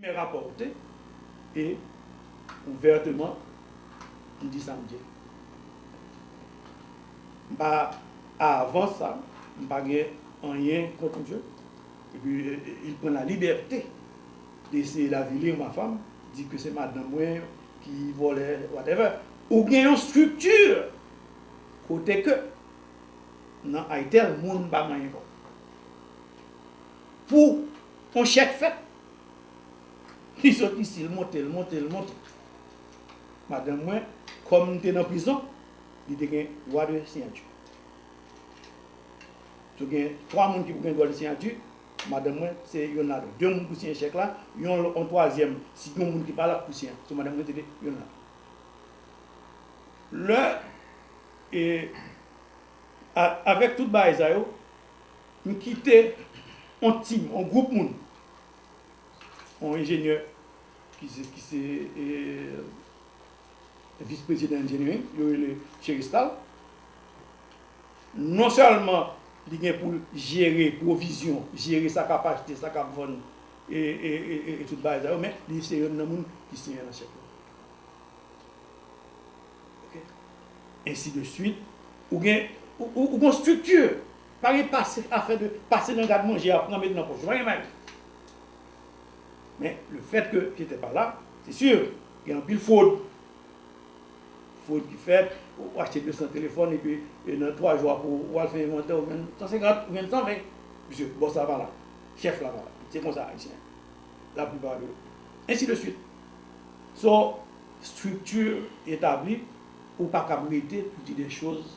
Men rapòte e ouvèteman m di sa m di a. M pa avan sa m pa gen anyen kont misye epi il pran la libète de essayer d'avilir ma femme, di ke se madanm mwen ki vòlè whatever. Ou gen yon structure kote ke nan ITEL moun pa manyen kòb. Pou on chèk fèt. Li sot isi, l monte, l monte, l monte. Madanm mwen, kòm m te nan prizon, li te gen dwa de siyati. Tou gen twa moun ki pou gen dwa de siyati, madanm mwen se yonn ladan. De moun pou siyen chèk la, yon on twazyèm, si gen on moun ki pa la ki pou siyen. Sou madanm mwen te gen yonn ladan. Lè, avèk tout bagay sa yo. M kite on team, on group moun, on enjenyè ki se ki se vice president engineering yo rele Cherestal. Non sèlman li gen pou l jere pwovizyon, jere sa k ap achte, sa k ap vann e e tout bagay sa yo men li se youn nan moun ki siyen an chèf la. Ok. Ensi de swit. Ou gen, ou gen on strikti. Pa gen pase afè de pase nan gad manje a pran met nan pòch yo pa gen bagay men le fèt ke je te pa la se si gen anpil fwod fwod ki fèt ou achte 200 telefòn epi nan 3 jou apre ou al fè envantè ou jwenn 150 ou jwenn 120 misye bòs la pa la chèf la pa la se konsa ayisyen la plipa de ensi de swit so strikti etabli ou pa kab rete pou di de choz.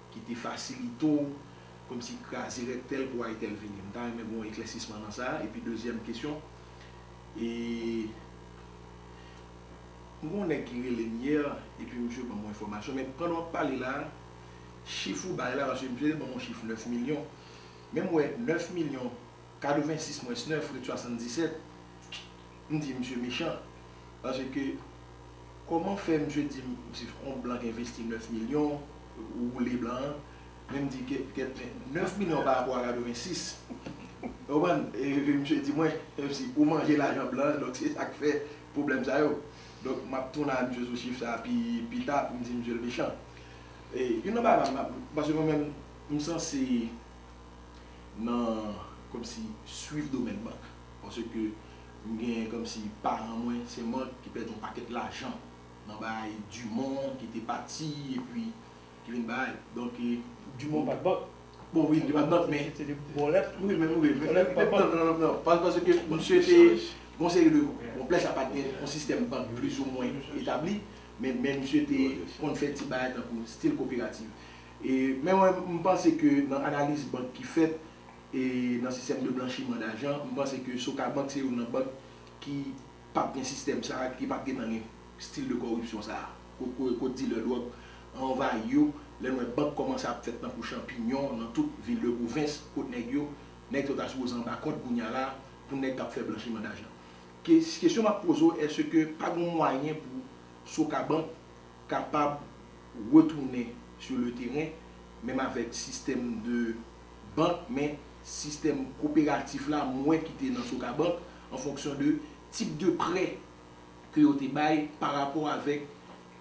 ki te fasilite w kòmsi kraze règ tèl pou ay tèl vini? M ta renmen gen yon eklèsisman nan sa. Epi dezyèm kesyon, e m gen yon nèg ki rele m yè epi misye ban m yon enfòmasyon men pandan w ap pale la a, chif ou bay la, paske misye te ban m yon chif 9 milyon men m wè 9 milyon 86 mwens 9 ret 77. M di misye mechan paske koman fè misye di m si on blan k envesti 9 milyon ou woule blan an men m di ke kèt men 9 milyon pa rapò a 86 ou konprann epi misye di mwen si ou manje lajan blan an donk se sak fè pwoblèm sa yo donk m ap tounen a misye sou chif sa pi pita pou m di misye l mechan e youn nan bagay m paske mwen menm m sanse nan kòmsi swiv domèn bank. Paske m gen komsi paran mwen se mant ki pèdi yon pakèt lajan nan bay Dumont ki te pati epi ki vin bay donk. Dumont pat bank. Bon wi li te pat bank men. Se te bòlèt. Wi men wi men li te bank nan nan nan paske misye te gon seri de bon plè sa pat gen yon sistèm bank plizoumwen etabli men men misye te konn fè ti bagay tankou stil koperativ e men mwen m panse ke nan analiz bank ki fèt nan sistèm de blanchiman dajan, m panse ke Sokabank se youn nan bank ki pap gen sistèm sa a, ki pap gen tan gen stil de kòripsyon sa a, kot dilè dwòg anvayi yo, lè n wè bank kòmanse ap fèt tankou chanpinyon nan tout vil de pwovens, kot nèg yo, nèg yo ta sipoze anba kòd kounye a la, pou nèg k ap fè blanchiman dajan. Kesyon m ap poze w, èske pa gen yon mwayen pou Sokabank kapab retounen sou le teren, menm avèk sistèm de. bank men sistèm koperatif la mwen ki te nan Sokabank an fonksyon de tip de prè ke yo te bay pa rapò avèk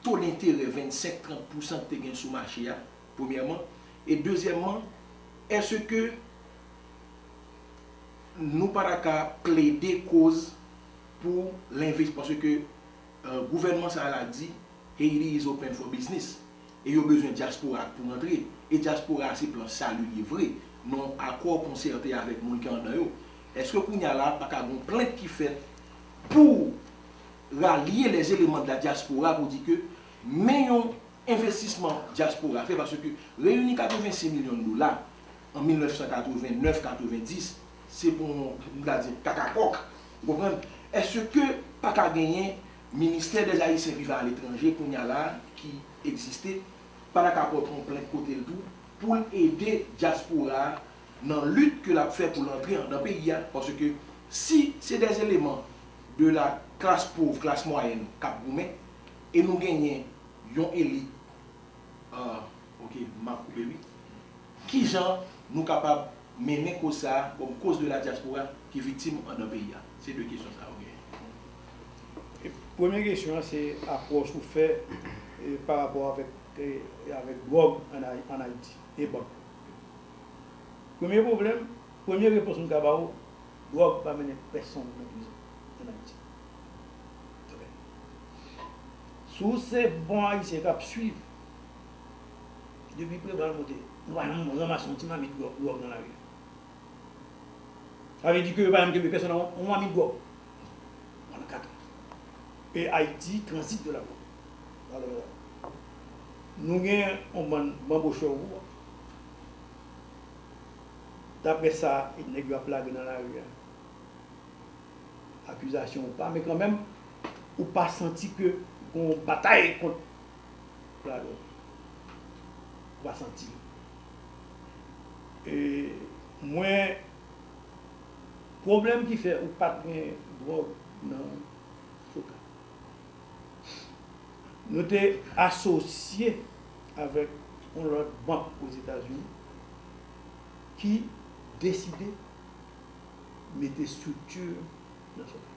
to denterè 25, 30 pousan ki te gen sou mache a premyèman e dezyèmman èske nou pa ta ka plede koz pou lenvis paske gouvènman sa la di Haiti is open for business. E yo bezwen dyaspora ak pou rantre. E dyaspora a se plan sali li ye vre, nan yon akò konsète avèk moun ki andan yo. Eske kounye a la a pa ka gen yon plent ki fèt pou ralye les éléments de la diaspora pou di ke men yon envestisman dyaspora fè paske reyini 86 milyon dola an 1989, 90 se pou yon, m ta di, kakakòk. Ou konprann? Eske pa ka genyen. Ministè dèz Ayisyen vivan aletranje kounye a la ki egziste pa ta ka pot yon plent kote l tou pou l ede dyaspora a nan lit ke l ap fè pou l antre andan peyi a paske si se dè eleman de la klas pov, klas mwayèn k ap goumen e nou genyen yon elit a ok m ap koupe wi. Kijan nou kapab mennen koz sa a kòm koz de la diaspora ki viktim andan peyi a? Se 2 kesyon sa yo genyen. Premye kesyon an se apwòch ou fè pa rapò avèk dwòg an Ayiti e bann. Premye pwoblèm, premye repons m ka ba ou, dwòg pa mennen pèsonn nan prizon an Ayiti. Si w se bon Ayisyen k ap suiv. Depi Preval monte, nou pa janm ranmase yon ti mamit gwòg nan lari. Sa vle di ke yo pa janm kenbe pèsòn ak yon mamit gwòg pandan kat an. E Ayiti transite de la drogue. Alò, nou gen yon bann banbochon kou wòch. Daprè sa nèg yo ap lage nan lari a, akizasyon ou pa men kanmenm, ou pa santi ke gen yon batay kont. Pardon. Ou pa santi. E mwen pwoblèm ki fè ou pat gen dwòg nan koka. Nou te asosye avèk yon lòt bank Ozetazini ki deside mete estrikti nan koka.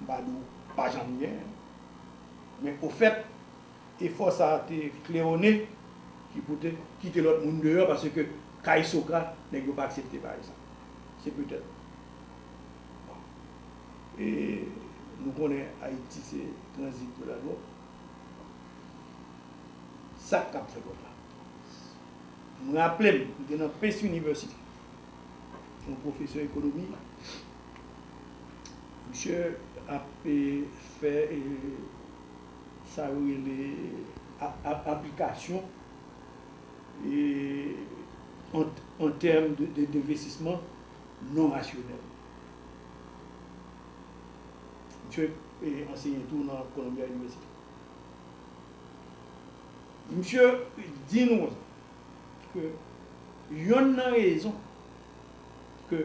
m pa di w pa janm gen, men ofèt efò sa a te Cleone ki pou te kite lòt moun deyò paske kay Socra nèg yo pa aksepte pa egzanp. Se petèt. Bon. E nou konnen Ayiti se tranzit pou ladwòg. Sa k kab fèt lòt la? M raple m, m te nan Pace University, yon pwofesè ekonomi. Misye ap fè sa yo rele aplikasyon an tèm de devestisman non rasyonèl. Misye anseye tou nan Columbia University. Misye di nou ke yonn nan rezon ke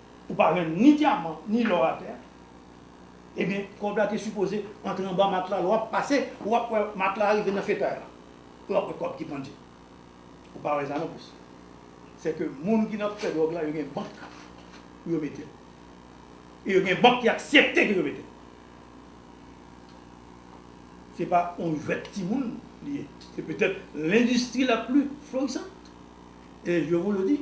ou pa jwenn ni dyaman ni lò atè a, ebyen kòb la te sipoze antre anba matla, lè w ap pase ou ap wè matla a rive nan fetay la, ou ap wè kòb ki pandye, ou pa wè sa nonplis, se ke moun ki nan fè dwòg la yo gen bank pou yo mete l, e yo gen bank ki aksepte ke yo mete l, se pa yon jwèt timoun li ye, se petèt lendistri la pli florisant, e je vous le dis.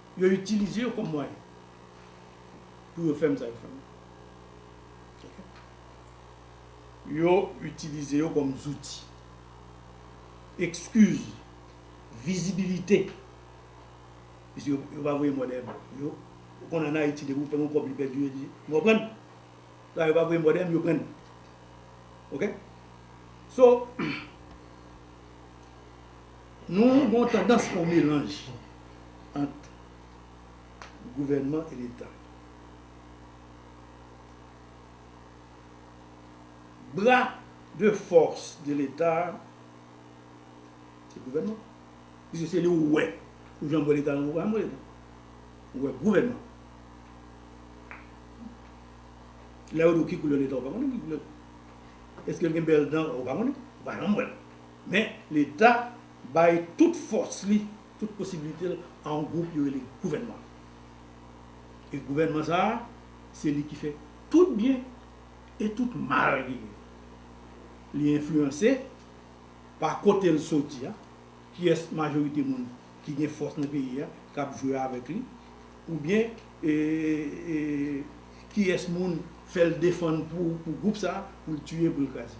Yo itilize yo kòm mwayen pou yo fèm sa yo fèm ok yo itilize yo kòm zouti ekskiz vizibilite pise yo pa voye mò dèyèm yo ou konn an ayiti depi ou fè yon kòb li pèdi yo di ou konprann sa yo pa voye mò dèyèm yo prann ok so. Nou gon tandans fon melanj ant gouvènman e leta. Bra de fòs de leta se gouvènman. Piske se li ou wè ou janm wè leta nan ou pa janm wè leta. Ou wè gouvènman. Lè yo di w ki koulè leta ou pa konnen ki koulè. Eske l gen bèl dan ou pa konnen. Ou pa janm wè l. Men, Leta bay tout fòs li, tout posibilite l a yon gwoup yo rele gouvènman. E gouvènman sa a, se li ki fè tout byen e tout mal genyen. Li enfliyanse pa kote l soti a, kiyès majorite moun ki gen fòs nan peyi a k ap jwe avèk li, oubyen kiyès moun fè l defann pou gwoup sa a, pou l tiye, pou l kraze.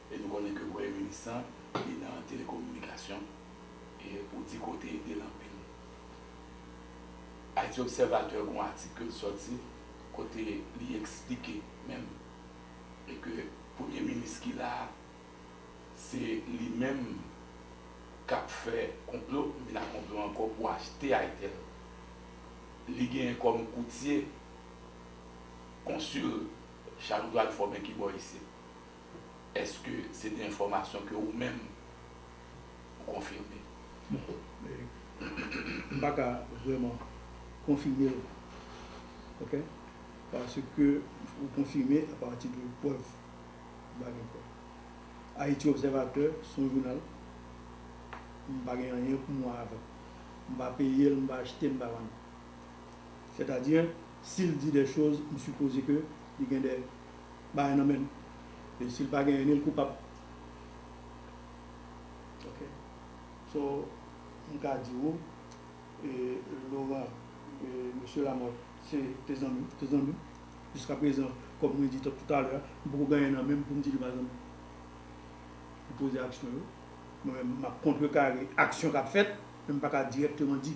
E nou konnen ke premye minis lan li nan telekominikasyon e ou di ke w te ede l anpil. Ayiti Obsèvatè gen yon atik ke l sòti kote li eksplike menm e ke premye minis ki la a se li menm k ap fè konplo vin ak konplo ankò pou achte Aitel. Li genyen kòm koutye konsil Charles Edouard Fòmen ki bò isit. Eske se te enfòmasyon ke ou menm ou konfime? Non. M pa ka vrèman konfime l. Ok? Paske pou konfime a pati de prèv, m pa gen prèv. Haiti Observateur se yon jounal, m pa gen anyen pou m wè avè l. M pa peye l, m pa achte, m pa vann. Sètadi, si l di de choz, m sipoze ke li gen de. bagay nan menm e sil pa genyen nil koupab ok so mka di ou e Laurent e mesye Lamothe se te zanmi te zanmi jiska prezan kòm mwen di tout alè a mpoko gen anyen nan menm poum di li pa zanmi ou poze aksyon yo mwen menm map kontrekare aksyon kap fèt men mpaka dirèkteman di.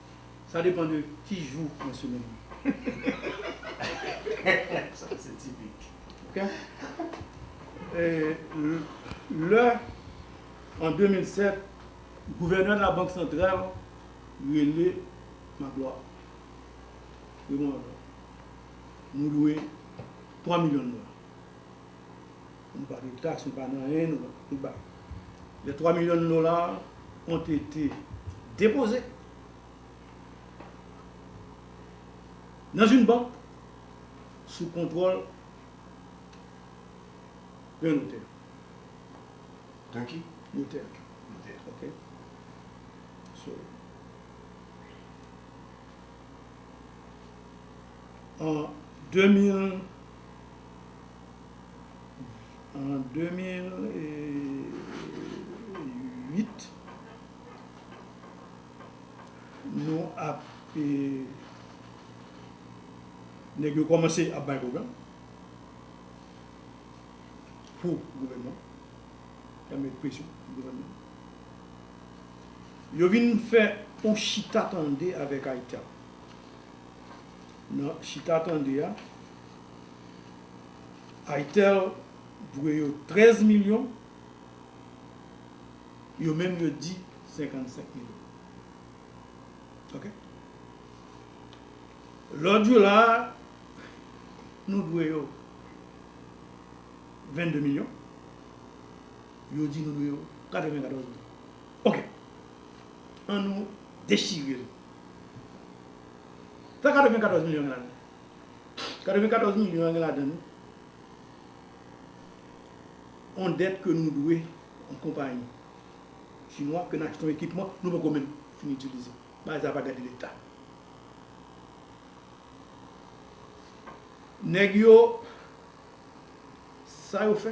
Sa depan de ki jou nan semèn li ye. Lè an 2007 gouvènè labank santral rele Maglwa Raymond Maglwa nou dwe 3 milyon dola. Nou pa gen taks, nou pa gen anyen, nou pa, nou pa. Les 3 millions de dollars ont été déposés dans une banque sous contrôle d'un notaire. D'un ki? Notaire. Notaire. Ok. So, en 2000, an 2008 nou ap nèg yo kòmanse ap bay pwogram pou gouvènman y ap mèt presyon sou gouvènman yo vin fè yon chita tande avèk Haitap nan chita tande a Aitel dwe yo 13 milyon, yo menm yo di 55 milyon. Ok. Lòt yo la a, nou dwe yo 22 milyon, yo di nou dwe yo 94 milyon. Ok. An nou dechire l. Sa 94 milyon yo nan. 94 milyon an gen ladan l yon dèt ke nou dwe yon konpayi chinwa ke n achte yon ekipman nou poko menm fin itilize. Bagay sa pa gade leta. Nèg yo, sa yo fè,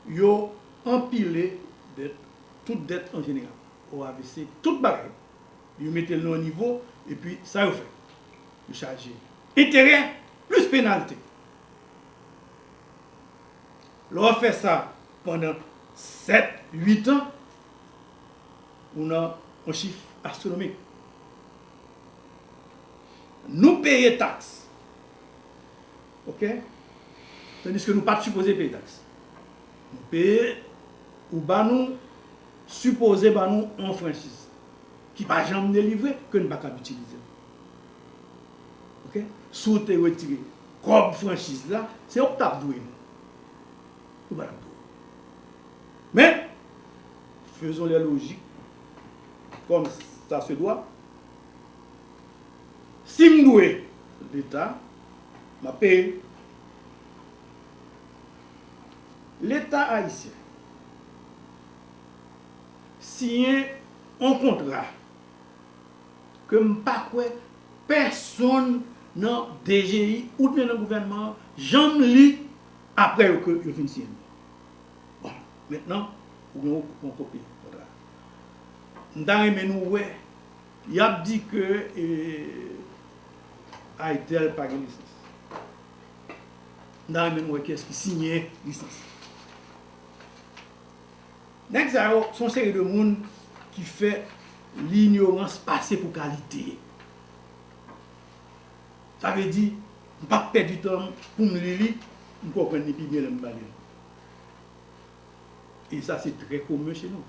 yo anpile dèt, tout dèt an jeneral, OAVC, tout bagay. Yo mete l nan yon nivo epi sa yo fè? Yo chaje enterè plis penalte. Lè w ap fè sa pandan 7, 8 an, ou nan yon chif astwonomik. Nou peye taks, ok, tandiske nou pa t sipoze peye taks. Nou peye, ou ba nou, sipoze ba nou yon franchiz. ki pa janm delivre ke n pa kab itilize l. Ok. Si w te retire kòb franchiz la, se yo k t ap dwe nou. Yo pa t ap dwe nou. Men, faisons les logiques comme ça se doit, si m dwe Leta, m ap peye. Leta ayisyen. siyen on kontra ke m pa kwè pèsonn nan DGI oubyen nan gouvènman an janm li apre yo ke yo fin siyen li. Bon, mentnan ou gen on kopi kontra a. M ta renmen nou wè y ap di ke Ayitel pa gen lisans. M ta renmen nou wè kiyès ki siyen lisans. Nèg sa yo son seri de moun ki fè linyorans pase pou kalite. Sa vle di, m pap pèdi tan m pou m li li, m konprann li pi byen lè m pale l. E sa se trè komen che nou.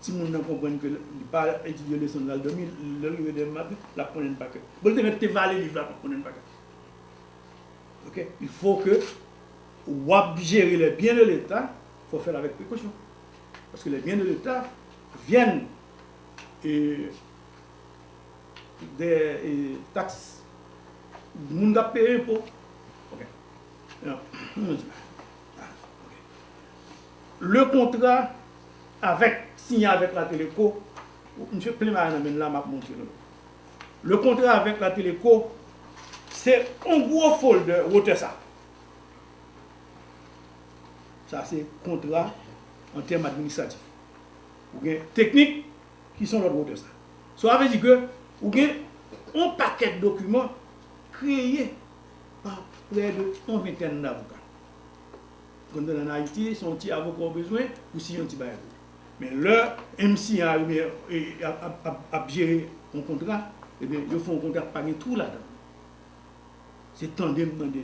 Timoun nan konprann ke li pa etidye leson l, l al dòmi, lè l rive demen maten, l ap konnen l pa kè. Bon l te mèt te vale liv la, l ap konnen l pa kè. Ok, il fo ke w ap jere lè byen le leta. Fò fèl avèk prekosyon paske les biens de l'Etat viennent de taxes moun kap peye enpo le kontra avèk siyen avèk la teleco misye plen mayo nan menl la map montre nou le kontra avèk la teleco se yon gwo folder wotè sa. Sa se kontra an tèm administratif. Ou gen teknik ki son lòt wotè sa. Sa vle di ke ou gen on pakèt dokiman kreye pa prè de on ventèn davoka. Konn nan Ayiti se on ti avoka ou bezwen pou siyen on ti bagay pou ou. Men lè MCA yo oubyen ap jere on kontra, ebyen yo fè on kontra ki pa gen twou ladan. Se tande m mande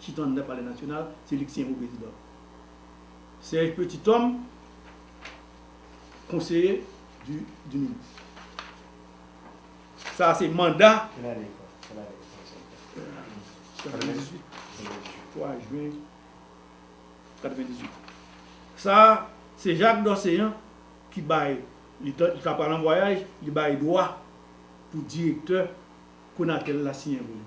chita anndan palè nasyonal, se li ki se nouvo prezidan. Serge Petit Homme, konseye di minis. Sa a se manda. Kèl ane li fèt? Kèl ane li fèt? Kèl ane li fèt? 98. 3 jwen 98. Sa a se Jacques Dorcéan ki bay, li ta pral an vwayaj, li bay dwa pou direktè Conatel la siyen pou li.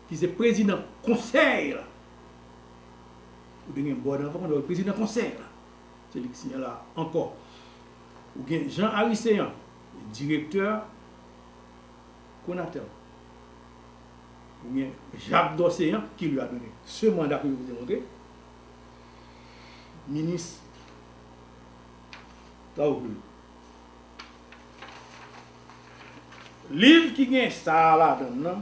Ki se prezidan konsèy la. Ou te gen Bòd anvan, kounya prezidan konsèy la. Se li ki siyen la ankò. Ou gen Jean Arissean, direktè Conatel. Ou gen Jacques Dorcéan ki li a done se manda ke yo pou demontre. Minis travaux publics. Liv ki gen sa a ladan l lan,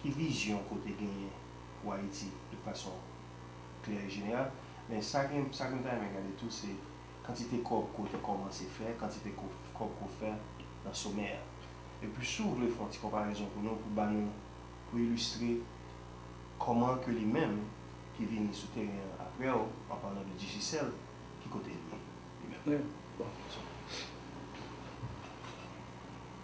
Ki vizyon ke w te genyen pou Ayiti de fason klè e jeneral? Men sa ke m ta renmen gade tou se kantite kòb ke w te kòmanse fè, kantite kòb ke w fè nan somè a. Epi si w vle fè yon ti konparezon pou nou pou ba nou, pou ilistre kòman ke li menm ki vini sou teren an apre w, an palan de Digicel, ki kote li ye li menm.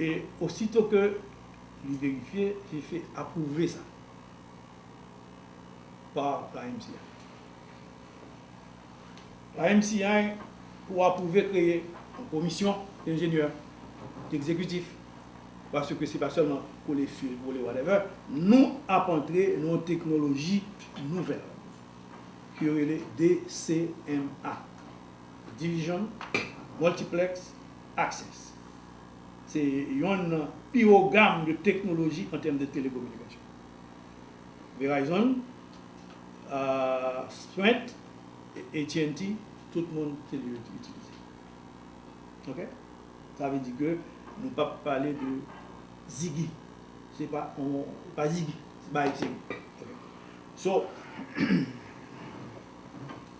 e osito ke li verifye, li fè apwouve sa pa YMCA. YMCA pou apwouve kreye yon komisyon enjenyè egzekitif, paske se pa sèlman kole fil, kole whatever, nou ap antre nan yon teknoloji nouvèl ke yo rele DCMA. Division, Multiplex, Access se yonn nan pi wo gam de teknoloji an tèm de telekominikasyon. Verizon, Sprint, AT&T, tout moun se li yo itilize. Ok? Sa vle di ke nou pap pale de Ziggy. Se pa yon, se pa Ziggy ki bay Ziggy. Ok. So,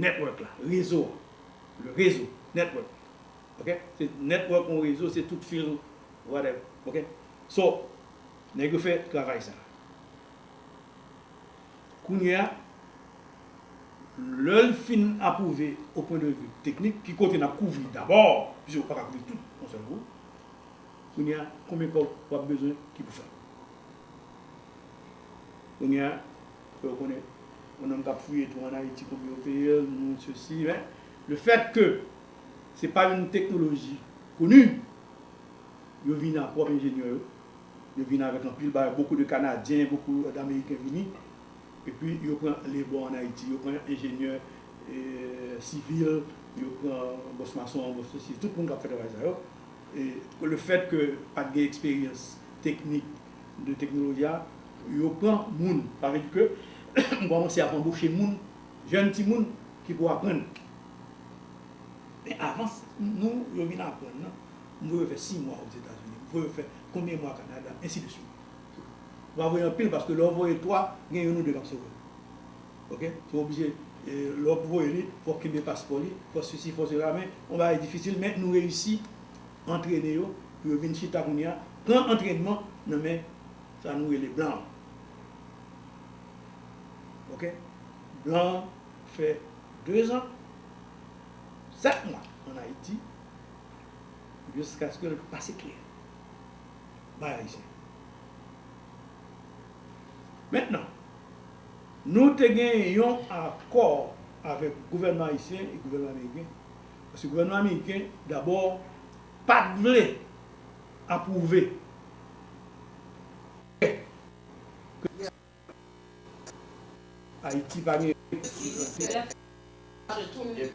Network la, rezo an. Le rezo, network. Ok? Se network yon rezo, se tout fil, whatever. Ok? So, nèg yo fè travay sa a. Kounye a, lè l fin apwouve o pwen de vi teknik, ki kote n ap kouvri dabò, piske ou pa ka kouvri tout yon sèl kou, kounye a, konbyen kòb w ap bezwen ki pou fè l? Kounye a, Fè yo konnen yon nonm kap fouye twou an Ayiti konbyen yo peye l, nou sesi men le fèt ke se pa yon teknoloji koni yo vini ak pwòp enjenyè yo, yo vini avèk anpil bagay, bokou de kanadyen, bokou dameriken vini epi yo pran lebò an Ayiti, yo pran enjenyè sivil, yo pran bòs mason, bòs sesi, tout moun kap fè travay sa yo e le fèt ke pat gen eksperyans teknik. de teknoloji a yo pran moun sa vle di ke m kòmanse ap anboche moun jèn timoun ki pou aprann men avan nou yo vin aprann nan m voye yo fè 6 mwa ozetazini m voye yo fè konbyen mwa kanada ensi de swit m pa voye anpil paske lè w voye 3 gen youn ou 2 k ap sove ok sou oblije lè w ap voye li fò w kenbe paspò li fò sesi fò sela men yon bagay difisil men nou reyisi. Antrene yo pou yo vin chita kounye a, pran antrènman nan men sa nou rele blan an. Ok. Blan an fè dezan, sèt mwa an Ayiti jiskaske l pase kle bay Ayisyen. Mentnan, nou te gen yon akò avèk gouvènman ayisyen e gouvènman ameriken. Paske gouvènman ameriken dabò pa t vle apwouve prè ke li te Ayiti pa gen rete pou l prete.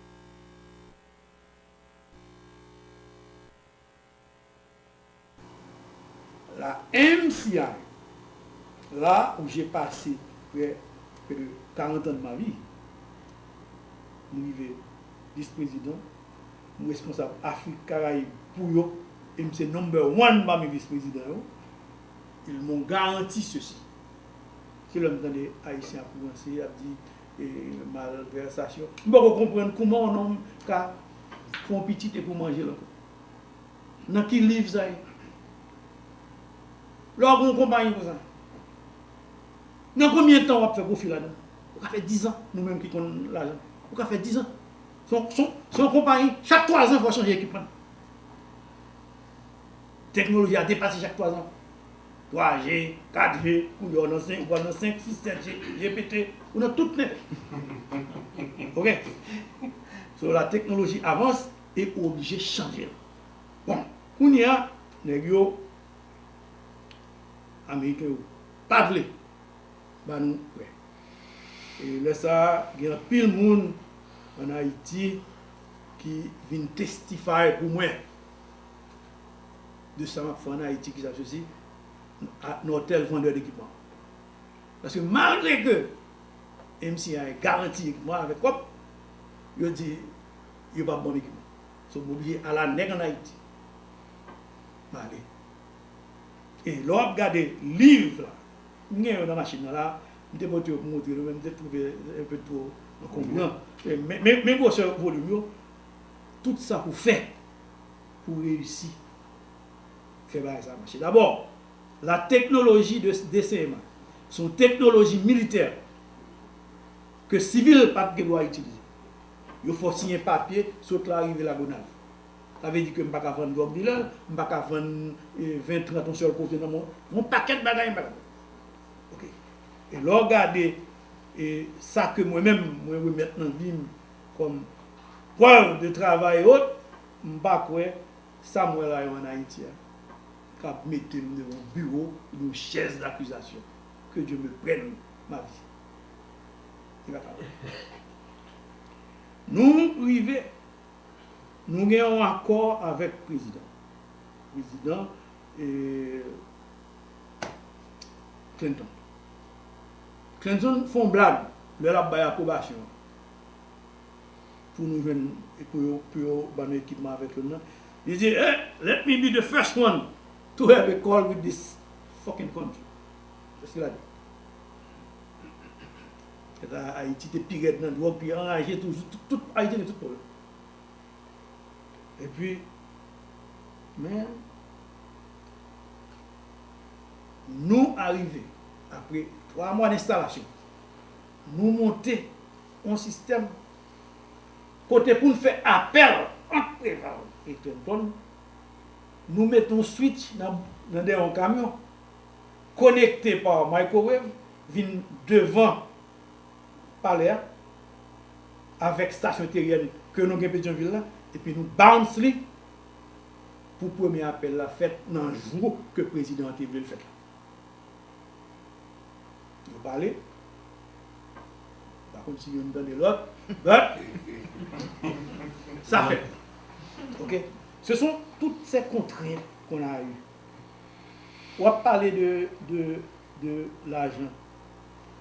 La MCI la ou je pase prè de 40 ans de ma vie m rive vice president m responsab Afrique Caraïbe pou yo e m se number one pami vice president yo ils m'ont garanti ceci se lè m tande ayisyen ap ranse ap di malversation m poko konprann kouman on homme ka fon pitit epou manjel ankò. Nan ki liv sa ye? Lè w gen yon konpayi konsa, nan konbyen tan w ap fè pwofi ladan l? Ou ka fè dizan, nou menm ki konn lajan. Ou ka fè dizan. Se yon konpayi, chak twazan fò w chanje ekipman. Teknoloji a depase chak twazan. Twaje, katje, koulye w nan senk, ou pral nan senk, sis, sètje, je pete, ou nan tout nèt. Ok? So lateknoloji avanse. e ou oblije chanje l. Bon, kounye a, nèg yo, Ameriken yo, pa vle ba nou prè. E lè sa a, gen anpil moun ann Ayiti ki vin testify pou mwen de sa m ap fè ann Ayiti, ki sa k sesi, Nortel vandè d'ekipman. Paske malgre ke MCI garanti ekipman avèk kòb, yo di, Yo pa bon nèg non. So bon bgy ala nèg an Haiti pale e lè wap gade liv la m gen yo nan machin nan la m te pote yo pou montre nou men m te trouve un peu two ankonbran men gwosè volim yo tout sa pou fè pou reyisi fè bagay sa mache dabò la teknoloji de dcma son teknoloji militè. ke sivil pat gen dwa itilize. Yo fè w siyen papye sot la rive Lagonav. Sa vle di ke m pa ka vann drug dealer, m pa ka vann 20, 30 yon sèl kote nan moun. Yon pakèt bagay m pa ka fè. Ok. E lè w gade e sa ke mwen menm mwen remèt nan vi m kòm prèv de travay e ot, m pa kwè sa m wè la yo an Ayiti a kab mete m devan yon biwo oubyen yon chèz dakizasyon. Ke Dye me prenne ma vie. Li pa ta bon. Nou rive, nou gen yon akò avèk prezidan. Prezidan Clinton. Clinton fè yon blag lè l ap bay apwobasyon an pou nou jwenn, pou yo ban nou ekipman avèk yo nan. Li di, Let me be the first one to have a call with this fucking country. Eske la gen. Kanta Ayiti te pi rèd nan dwòg, pi anraje toujou. Tout Ayiti gen tout pwoblèm. Epi, men, nou arive, apre 3 mwa denstalasyon, nou monte yon sistèm kote pou n fè apèl ant Preval e Clinton, nou mete yon switch nan dèyè yon kamyon. konekte pa microwave vin devan palè a avèk stasyon teryèn ke nou gen Petyonvil la epi nou bounce li pou premye apèl la fèt nan jou ke prezidan an te vle l fèt la. Yo pale, m pa konn si youn tande lòt, but sa fèt. Ok, se son toutes ces contraintes qu'on a eu. Wap pale de de de lajan.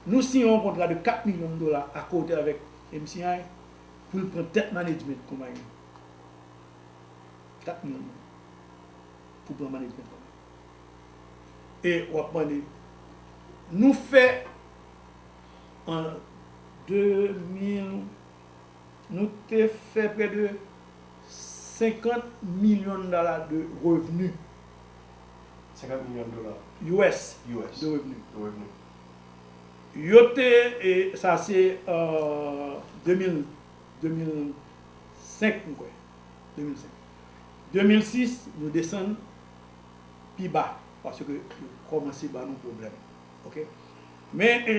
Nou siyen yon kontra de 4 million dola a kote avek mci pou l pran tet management konpayi an. 4 million dola pou pran management konpayi an. E wap mande nou fè an 2000. Nou te fè prè de 50 milyon dala de revni. 50 milyon dola. US. US. De revni. De revni. Yo te, e sa se 2000, 2005 m kwè, 2005. 2006 nou desann pi ba paske yo kòmanse ban nou pwoblèm. Ok. Men e.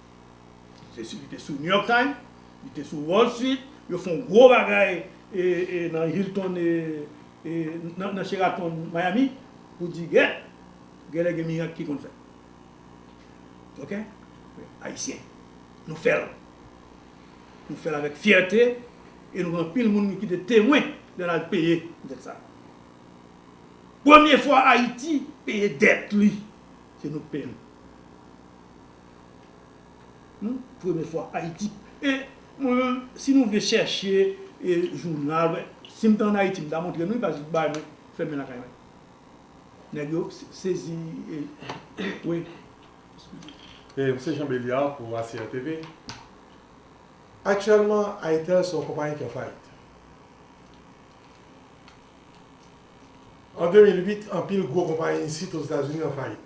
Se si li te sou New York Times, li te sou Wall Street, yo fon gwo bagay nan Hilton nan Sheraton Miami pou di gè, gèlè gen mirak ki konn fèt. Ok? Ayisyen, nou fèl. Nou fèl avèk fyète e nou gen anpil moun ki te temwen lè n al peye dèt sa. Premye fwa Ayiti peye dèt li, se nou k peye l. Humm premye fwa ayiti e mwen menm si nou vle chèche e jounal wè sim te an ayiti m ta montre nou li pa jis bay mwen fèmen lakay mwen nèg yo sezi wi eskize. E m se Jean Beliard pou ACR TV. Aktyèlman Airtel se yon konpayi ki an fayit. An 2008 anpil gwo konpayi isit Ozetazini an fayit.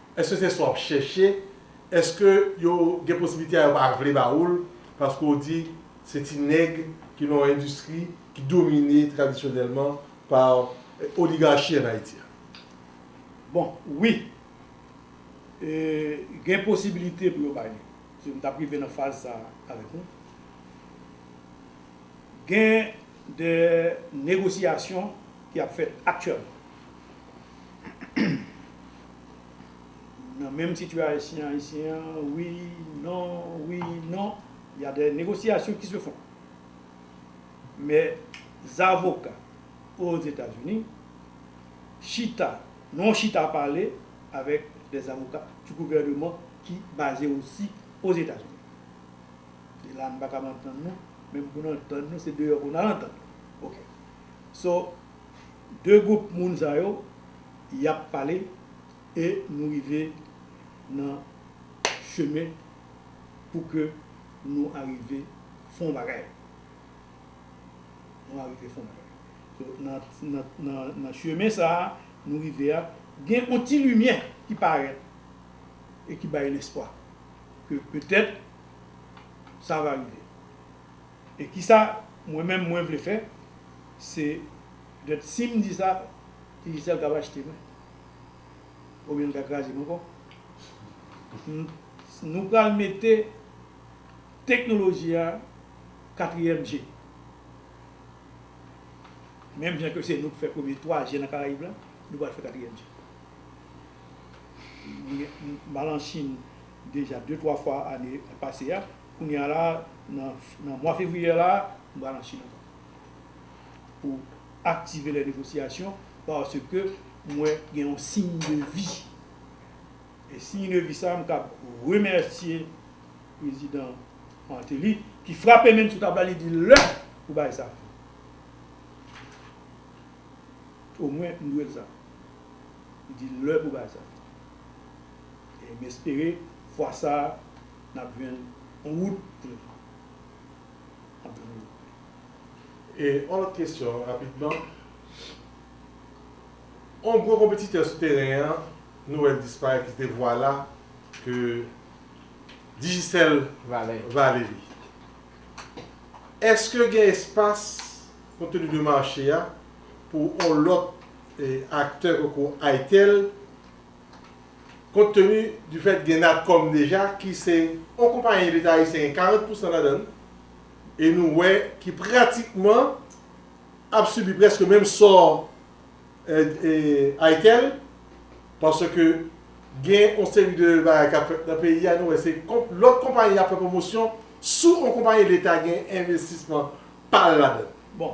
Eske se sa wap chèche? Eske yo gen posibilite a yo pa vle ba ou l paske w di se ti nèg ki nan yon endistri ki domine tradisyonèlman pa oligarchi an Ayiti a? Bon, wi. E gen posibilite pou yo bay li. Si m t ap rive nan faz sa a avèk ou. Gen de negosyasyon ki ap fèt aktyèlman. Nan menm sitiyasyon ayisyen an, wi, non, wi, non, y a des négociations qui se font. Mè zavoka Ozetazini chita nan yon chita pale avèk des zavoka du gouvèneman ki baze osi Ozetazini. E la nou pa kab antann nou, menm pou nou antann nou se deyò pou nou al antann nou. Ok. So, 2 group moun sa yo yap pale e nou rive nan chemen pou ke nou arive fon bagay nou arive fon bagay nan chemen sa nou rive a gen on ti limyè ki parèt e ki bay lespwa ke petèt sa va rive. E kisa mwen menm mwen vle fè se gad sim di sa initial ka rachte mwen oubyen li ka krazem ankò nou pral mete teknoloji a katriyèm je menm jan ke se nou ki fè premye 3 je nan karayib la nou pral fè katriyèm je m al an chine deja 2 3 fwa ane pase a. Kounye a la, nan mwa fevriye la, m pral an Chili ankò pou aktive lè negosyasyon paske m wè gen yon siy de vi. E siy de vi sa a, m kab remèsye prezidan Martelly ki frape menm sou tab la, li di lè pou bagay sa a fini. Omwen m dwe l sa. Li di lè pou bagay sa a fini. E m espere fwa sa a. Nap jwenn on wout pou nou. Nap jwenn wout pou nou. E on lòt kesyon rapidman. On gwo konpetitè sou teren an nou wè l disparèt ki se te Vwala ke Digicel vale li. Eske gen espas konteni de mache a pou on lòt aktè tankou Itel Kont teni di fèt gen Natcom deja ki se yon konpayi leta ayisyen gen 40 pousan ladan l e nou wè ki pratikman ap sibi prèske menm sò Aitel paske gen yon seri de bagay k ap fèt nan peyi a nou wè se lòt konpayi y ap fè pwomosyon sou yon konpayi leta gen envestisman pa l ladan l.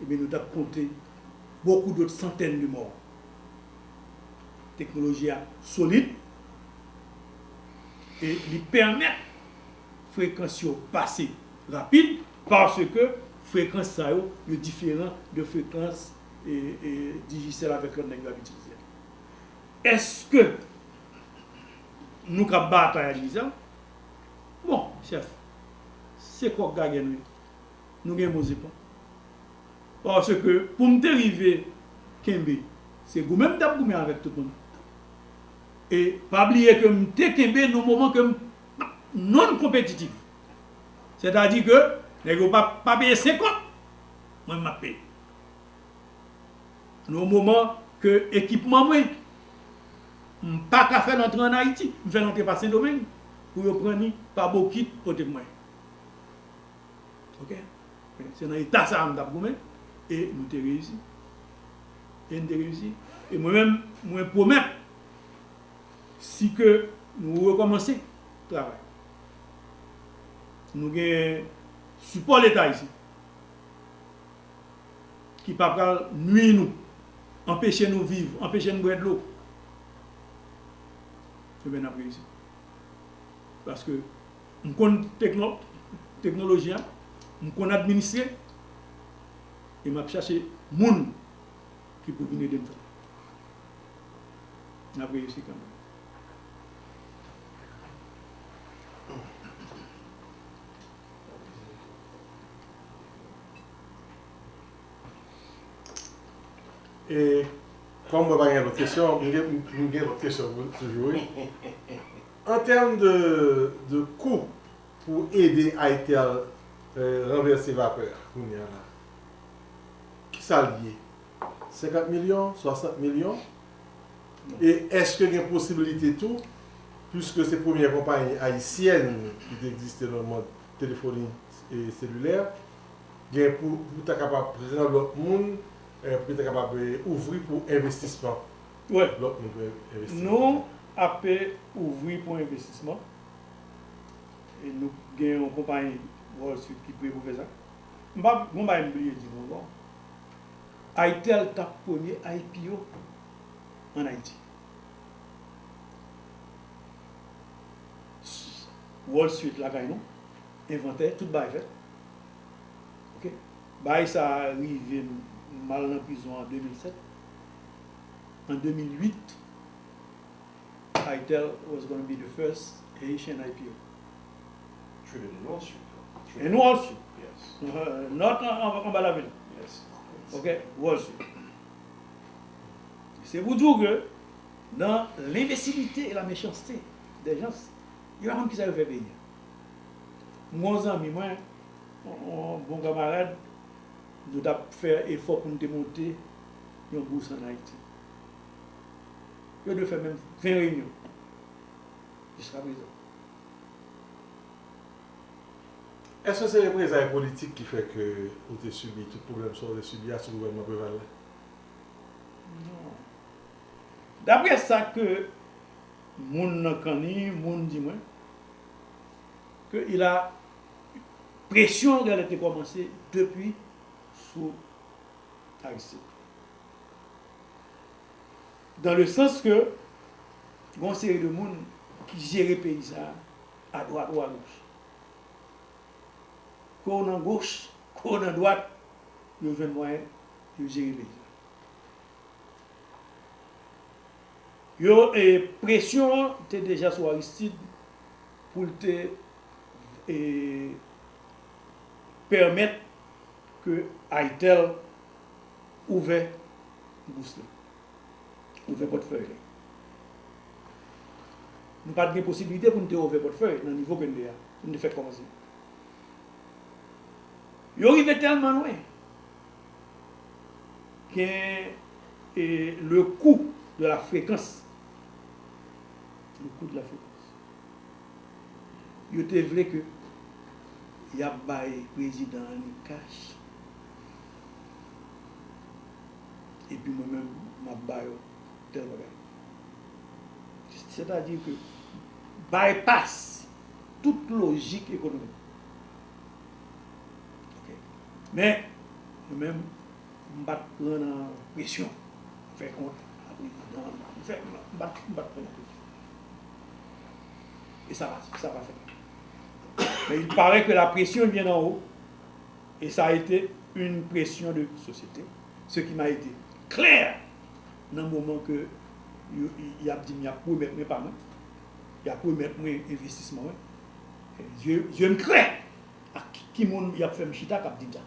eh bien nou tap konte beaucoup d'autres centaines de morts. Teknoloji a solid e li pèmèt frekans yo pase rapid parce que frekans sa yo, yo diferan de frekans Digicel avèk lòt nèg yo ap itilize a. Eske nou ka batay ak Digicel? Bon chèf, se kòk gagen wi. Nou gen bon zepòt. Paske pou m te rive kenbe, se goumen m t ap goumen avèk tout moun. E pa bliye ke m te kenbe nan moman ke m p at non konpetitif. Sètadi ke nèg yo pa pa peye senkant, mwen m ap peye. Nan yon moman ke ekipman mwen, m pa ka fè l antre ann Ayiti. M fè l antre pa Sendomeng pou yo pran li pa bokit pote pou mwen. Ok, men se nan eta sa a m t ap goumen e nou te reyisi. E n te reyisi. E mwen menm, mwen pwomèt si ke nou rekòmanse travay, nou gen sipò leta isit ki pa pral nui nou, anpeche nou viv, anpeche n bwè dlo, e ben n ap reyisi. Paske. M konn teknoloji a, m konn administre e m ap chache moun ki pou vin ede m fè l. N ap reyisi kanmenm. E kòm mwen pa gen lòt kesyon, m gen lòt kesyon toujou wi. An tèm de de kou pou ede ITEL ranvèse vapè a kounye a la, ki sa l ye? 50 milyon? 60 milyon? E èske gen posibilite tou, piske se premyè konpayi ayisyèn ki te egziste nan mond telefoni selilè, gen pou ta kapab pran lòt moun, pou ki ta kapab ouvri pou envestisman Wè, nou ape ouvri pou envestisman e nou gen yon konpayi Wall Street ki pre pou fè sa. M pa, gon bagay m bliye di nou ankò. ITEL t ap premye IPO an Ayiti. Wall Street lakay nou, envantè, tout bagay fèt. Ok. Bagay sa a rive m, m al nan prizon an 2007. an 2008, Pytel was gonna be the first Haitian IPO. Trinity North Street yo. Trinity North Wall Street. Yes. North lan anba lavil. Yes. Ok. Wall Street. Se pou di w ke nan lenbesilite e la mechanste dè jans, yo pa konn kisa yo fè peyi a. M gen yon zanmi mwen, yon bon kamarad, nou t ap fè efò pou nou te monte yon bous an Ayiti. Yo dwe fè menm 20 reyinyon jiska prezan. Èske se reprezay politik ki fè ke ou te sibi tout pwoblèm sa ou te sibi a sou gouvènman Preval la? Non. Dapre sa ke moun nan kanni moun di mwen, ke il a, presyon an gèlè te kòmanse depi sou. Aristide. Dan le sans ke gen yon seri de moun ki jere peyi sa a, a dwat ou a goch. Ke w nan goch, ke w nan dwat, yo jwenn mwayen pou yo jere peyi sa a. Yo, e presyon an te deja sou Aristide pou l te e pèmèt Ke Aitel ouvè bous li. Ouvè pòtfèy li. Nou pat gen posibilite pou nou te ouvè pòtfèy nan nivo ke nou ye a. Pou nou te fè kòmanse. Yo rive tèlman lwen. Gen le kou de la frekans. Le kou de la frekans. Yo te vle ke yap bay prezidan an li cash epi mwen menm map ba yo tèl bagay. Sètadi ke bypass tout lojik ekonomik. Ok. Men mwen menm m pat pran nan presyon fè kont a prezidan an. M fè m pat pran nan presyon. E sa pa fèt. Men il parè ke la presyon vyen d'en haut e sa ete yn presyon de sosyete, se ki m'a ete klè nan moman ke y'ap di'm y'ap remèt mwen pa mwen, y'ap remèt mwen envestisman mwen, zye'm klè ak ki moun y'ap fè'm chita k'ap di'm sa.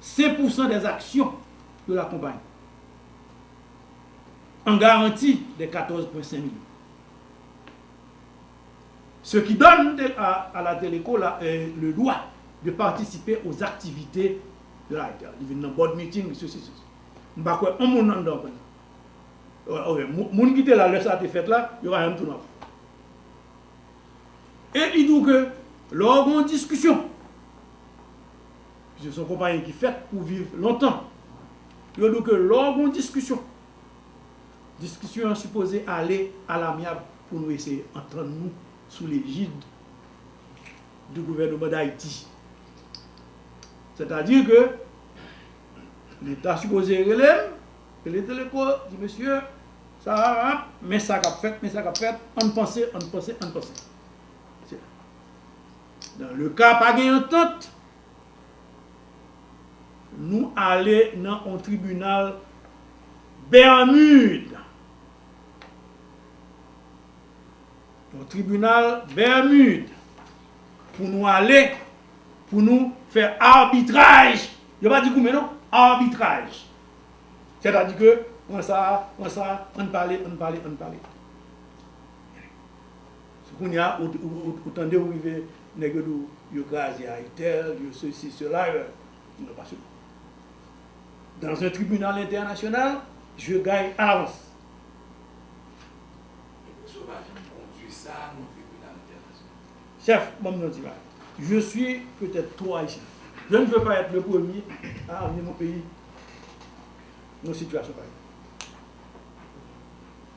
Sen pousan dè zaksyon yo lakonpayi. An garanti dè katòz pwen sen milyon. Se ki dòn de a a la Teleco la le dwa de patisipe o zaktivite de la Rtl. Li vin nan bòd miting, li sesi, sesi. M pa kwè on moun anndan konn sa. Ok, moun ki te la lè sa te fèt la, yo pa janm tounen anko. E li di w ke lò gen yon diskisyon. Piske son konpayi ki fèt pou viv lontan. Yo di w ke lè w gen yon diskisyon, diskisyon an sipoze ale a lamyab pou nou eseye antann nou sou lejid di gouvèneman Dayiti. Sètadi ke li ta sipoze rele m, rele Teleco, di mesye, sa a ap, men sa k ap fèt, men sa k ap fèt, ann panse, ann panse, ann panse. Dans le cas pa gen antant, nou ale nan on tribunal Bermude. On tribunal Bermude pou nou ale pou nou fè arbitraj. Yo pa di goumen non, arbitraj. Sètadi ke pran sa, pran sa, ann pale, ann pale, ann pale. Se kounya ou tande ou rive nèg yo di w yo kraze Ayitel, yo sesi sela non pa sou dans un tribunal entènasyonal je gagne à l'avance. E pou sou pa janm kondwi sa nan tribunal entènasyonal. Chèf banm di yon ti bagay je suis peut être trop haïtien je ne veux pas être le premier à amener mon pays nan sitiyasyon pareil.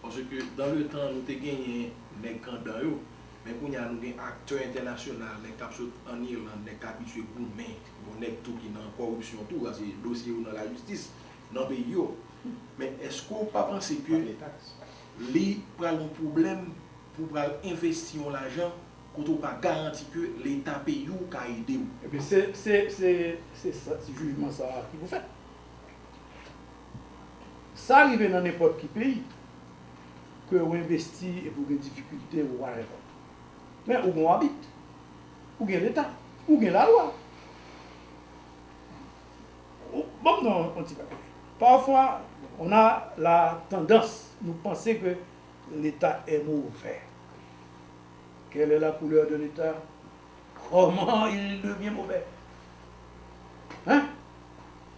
Paske dan le tan nou te genyen nèg kandan yo, men kounye a nou gen aktè entènasyonal, nèg kap sot an Irland, nèg k abitye goumen, bon nèg tou ki nan kòripsyon tou, sa se dosye yo nan lajistis nan peyi yo. Men èske w pa panse ke li pral yon pwoblèm pou w pral envesti yon lajan kote w pa garanti ke leta peyi w ka ede w? Ebyen se jijman sa ki pou fèt. Sa rive nan nenpòt ki peyi ke ou envesti epi ou gen difikilte ou whatever. Men ou gon abit, ou gen leta, ou gen lalwa. Banm non yon ti bagay. Pafwa on a la tandans nou panse ke leta è movè. Kèlè la koulè de leta? Kòman il devyen movè? Hein?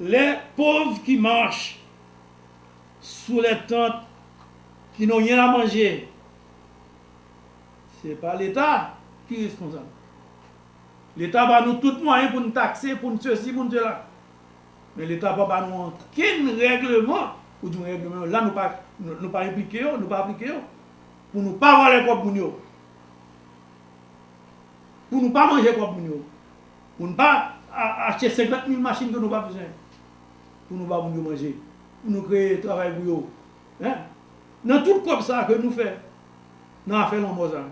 Lè pov ki mach sou lè tant ki no yen a manje se pa leta ki responsab leta ba nou tout mwayen pou n takse pou n sesi pou n sela men leta pa ba nou ankenn règleman ou di yon règleman yo la nou pa nou pa enplike yo nou pa aplike yo pou nou pa vòlè kòb moun yo pou nou pa manje kòb moun yo. Pou n pa achte 50 mil machin ke nou pa bezwen. Pou nou ba moun yo manje. Pou nou kreye travay pou yo. Hein? Nan tout kòb sa ke nou fè nan afè lanmò sa.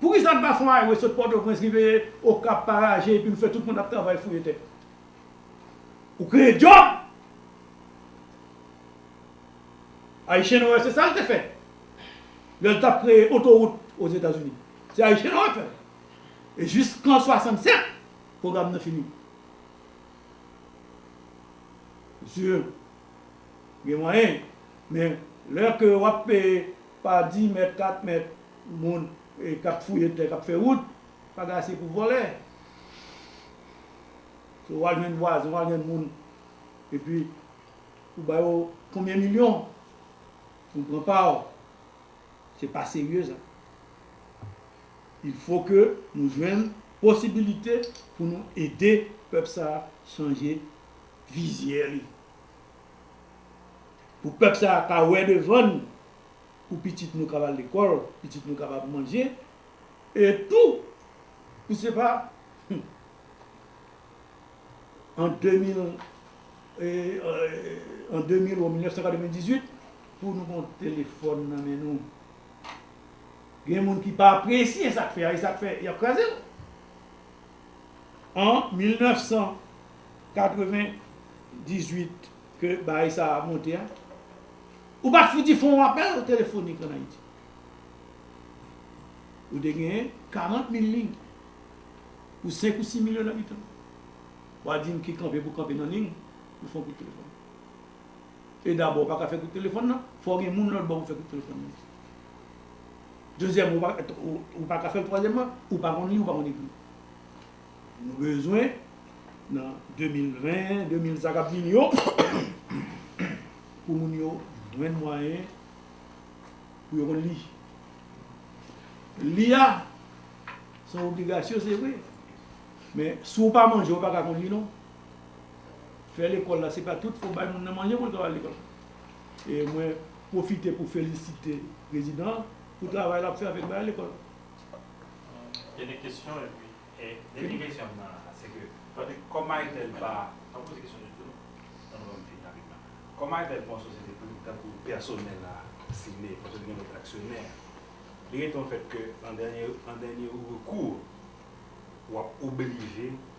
Poukisa n pa fon highway sot Pòtoprens rive Okap, Paraje epi nou fè tout moun ap travay fouye tè. Ou kreye djòb! Ayichen Noè se sa l te fè. Lè l t ap kreye otorout Ozetazini. Se Ayichen Noè k fè l. E jis kan 67 pwogram nan fini. Mesye, gen mwayen, men lè ke w ap peye pa di mèt, kat mèt moun k ap fouye tè, k ap fè wout, pa gen ase pou vòlè. Se w al jwenn vwazen, w al jwenn moun, epi ou ba yo konbyen milyon pou pran pa w. Se pa serye sa. Il fo ke nou jwenn posibilite pou nou ede pèp sa a chanje vizyè li. Pou pèp sa a ka wè devan n, pou pitit nou kab al lekòl, pitit nou kab ap manje, e tou pou se pa an 2000, an 2000 ou 1998 pou nou gon telefòn nan men nou. Gen moun ki pa apresye sa k fè a e sa k fè y ap kraze l. An 1998 ke bagay sa a monte a, ou pa t fouti fè yon apèl telefonik an Ayiti. Ou te genyen 40 mil liy pou 5 ou 6 milyon abitan. W a di m ki kanpe pou kanpe nan liy pou fè yon kout telefòn. e dabò ou pa ka fè kout telefòn nan, fò w gen moun lòt bò pou fè kout telefòn nan. Dezyèmman, ou pa ka fè l, twazyèmman, ou pa konn li, ou pa konn ekri. Nou bezwen nan 2020, 2000 sa k ap vini yo, pou moun yo jwenn mwayen pou yo konn li. Li a, se yon obligasyon se vre, men si w pa manje ou pa ka konn li non. fè lekòl la se pa tout fòk bay moun nan manje pou l ka al lekòl e mwen pwofite pou felisite prezidan an pou travay l ap fè avèk bagay lekòl Dènye kesyon epi Dènye kesyon m nan se ke paske kòm Maytèl pa m ap poze kesyon nou tou tan nou ban m fini rapidman kòm Maytèl pa yon sosyete prive tankou pèsonèl la sile paske li gen lòt aksyonè li rete yon fèt ke an dènye an dènye rekou w ap oblije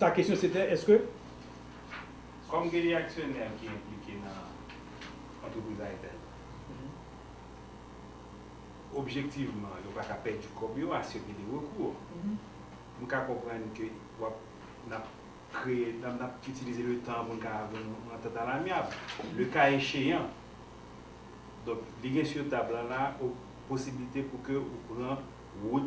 Ta kesyon se te èske. Kòm gen de aksyonè ki enplike nan antrepriz Airtel, objektivman yo pa ka pèdi kòb yo a se ke de rekou. M ka konprann ke w ap, n ap kreye, n ap itilize le tan pou n ka jwenn yon antant alamyab. Le ka echeyan, donk li gen sur tab la la posibilite pou ke ou pran wout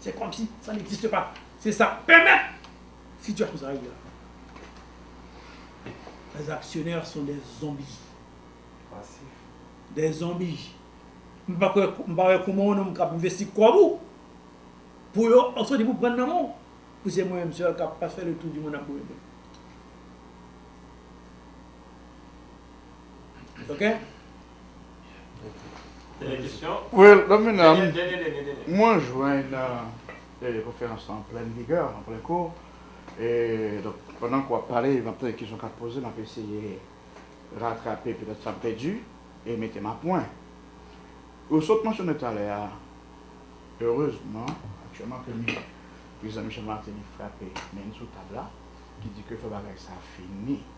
Se kòmsi sa n'existe pas. Se sa k pèmèt sitiyasyon sa rive la. Les actionnaires sont des zombies. Pasif. Des zombies. M pa kwè, m pa wè kouman yon nonm k'ap envesti kòb ou, pou yo ap sòti pou pran nan men w, pou se mwen menm sèl k'ap fè le tour du monde ap boule bèk. Ok? Dènye kesyon. Well, Don Menam, Dènye, dènye, dènye, dènye. mwen jwenn nan e konferans lan an plèn vigè, an plèn kou. E donk, pandan ke w ap pale, m ap tande kesyon k ap poze, m ap eseye ratrape petèt sa m pèdi e mete m a pwen. Ou sot mansyone talè a, erezman, aktyèlman ke mi, Prezidan Michel Martelly frape men n sou tab la, ki di ke fò bagay sa fini.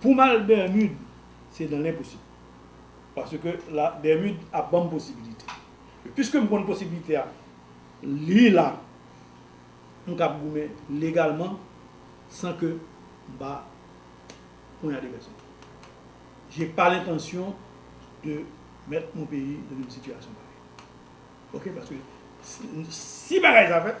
Poum al Bermude se nan lenposib. Paske la Bermude ap banm posibilite. E piskem konn posibilite a li la m kab goumen legalman san ke m pa ponyade pèsonn. Je pa lentansyon de mèt mon peyi nan yon sitiyasyon parèy. Ok paske si bagay sa fèt.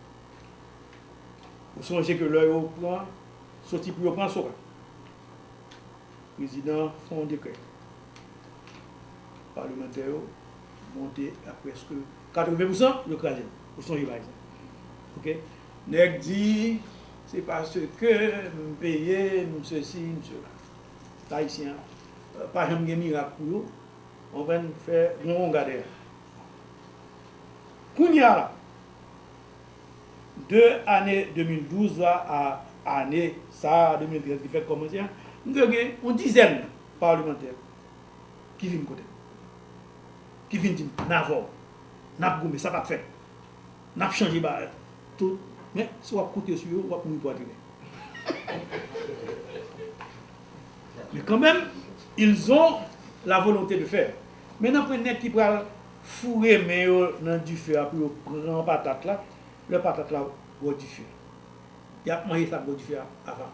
Ou sonje ke lè yo pran soti pou yo pran sou a, prezidan an fè yon dekrè. Palemantè yo monte a prèske 80 pousan, yo kraze l. Ou sonje bagay sa. Ok. Nèg di, se paske m peye, m sesi, m sela. Ayisyen pa janm gen mirak pou yo. Konprann? Fè yon wonga dèyè. Kounye a la, de ane 2012 la a ane sa a 2013 ki fèk kòmanse a, m dwe gen yon dizèn palemantè ki vin kote m, ki vin di m, n avè w, n ap goumen, sa p ap fèt, n ap chanje bagay yo, tout, men si w ap konte sou yo, w ap mouri pwatinen. Men kanmenm, ils ont la volonté de faire. Men nanpwen nèg ki pral. Foure men yo nan dife a pou yo pran patat la, lè patat la bò dife a. Y ap manje sa k bò dife a avan.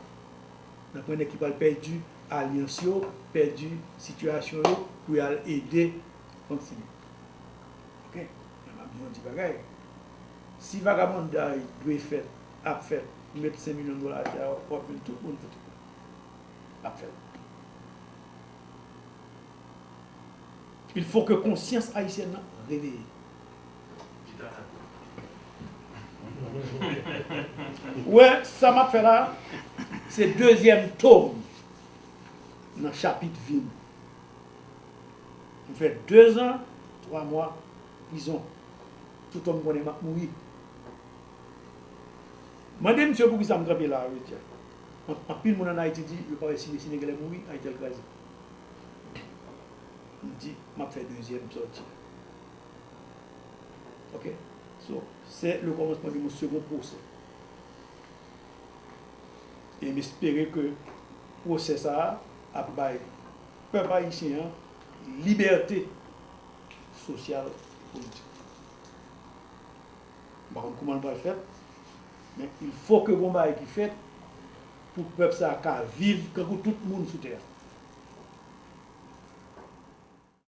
N ap pran nèg ki pral pèdi alyans yo, pèdi sitiyasyon yo pou y al ede Fontilik. Oke? Men m ap di w yon ti bagay, si vagabonday dwe fèt, ap fèt, ou met 5 milyon dola atè a, w ap jwenn tout moun sou tè a. L ap fèt. Il fo ke konsyans ayisyèn nan reveye. Ou wè sa map fè la a? Se dezyèm tome nan chapit vi m. M fè dezan twa mwa prizon. Tout homme konnen map mouri. Mande misye poukisa m kanpe la a jodi a. Anpil moun an Ayiti di yo pa wè si mesye Deguèlè mouri, Ayiti al kraze. M di map fè dezyèm sòti. Ok so se le kòmansman de mon second procès. E m espere ke procès sa a ap bay pèp ayisyen an libète sosyal e politik. M pa konn kouman l pral fèt men il fò ke gon bagay ki fèt. pou pèp sa ka viv kankou tout moun sou tè a.